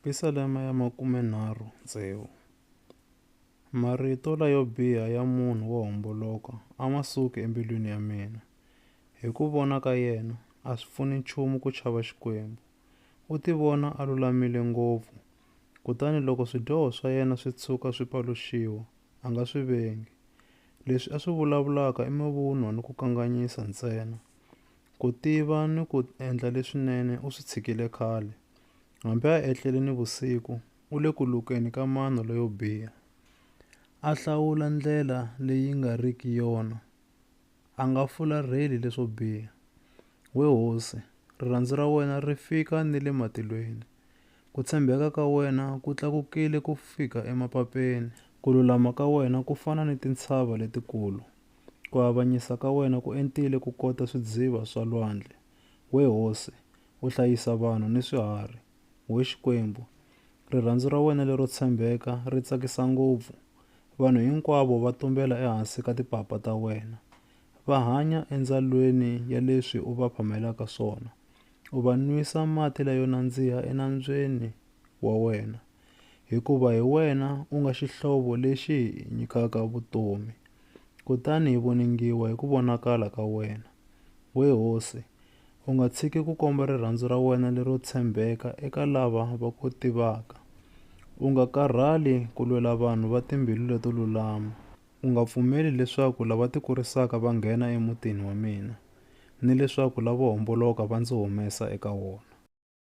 Pisalema ya makumenharhu tsevu. Marito layo biha ya munhu wo homboloka a ma suki embilwini ya mina. Hi ku vona ka yena, a swi pfuni nchumu ku chava Xikwembu. U tivona a lulamile ngopfu, kutani loko swidyoho swa yena swi tshuka swi paluxiwa, a nga swi vengi. Leswi a swi vulavulaka i mavunwa ni ku kanganyisa ntsena. Ku tiva ni ku endla leswinene u swi tshikile khale. Hambi a etlele nivusiku, u le ku lukeni ka mano leyo biha. A hlawula ndlela leyi nga riki yona, a nga fularheli leswo biha. We hosi, rirhandzu ra wena ri fika ni le matilweni, ku tshembeka ka wena ku tlakukile ku fika emapapeni. Ku lulama ka wena ku fana ni tintshava letikulu, ku avanyisa ka wena ku entile ku kota swidziva swa lwandle. We hosi, u hlayisa vanhu ni swiharhi. We Xikwembu, rirhandzu ra wena lero tshembeka ri tsakisa ngopfu! Vanhu hinkwavo va tumbela ehansi ka tipapa ta wena. Va hanya endzalweni ya leswi u va phamelaka swona. U va nwisa mati layo nandziha enambyeni wa wena, hikuva hi wena u nga xihlovo lexi hi nyikaka vutomi. Kutani hi voningiwa hi ku vonakala ka wena, we Hosi, U nga tshiki ku komba rirhandzu ra wena lero tshembeka eka lava va ku tivaka. U nga karhali ku lwela vanhu va timbilu leto lulama. U nga pfumeli leswaku lava tikurisaka va nghena emutini wa mina, ni leswaku lavo homboloka va ndzi humesa eka wona.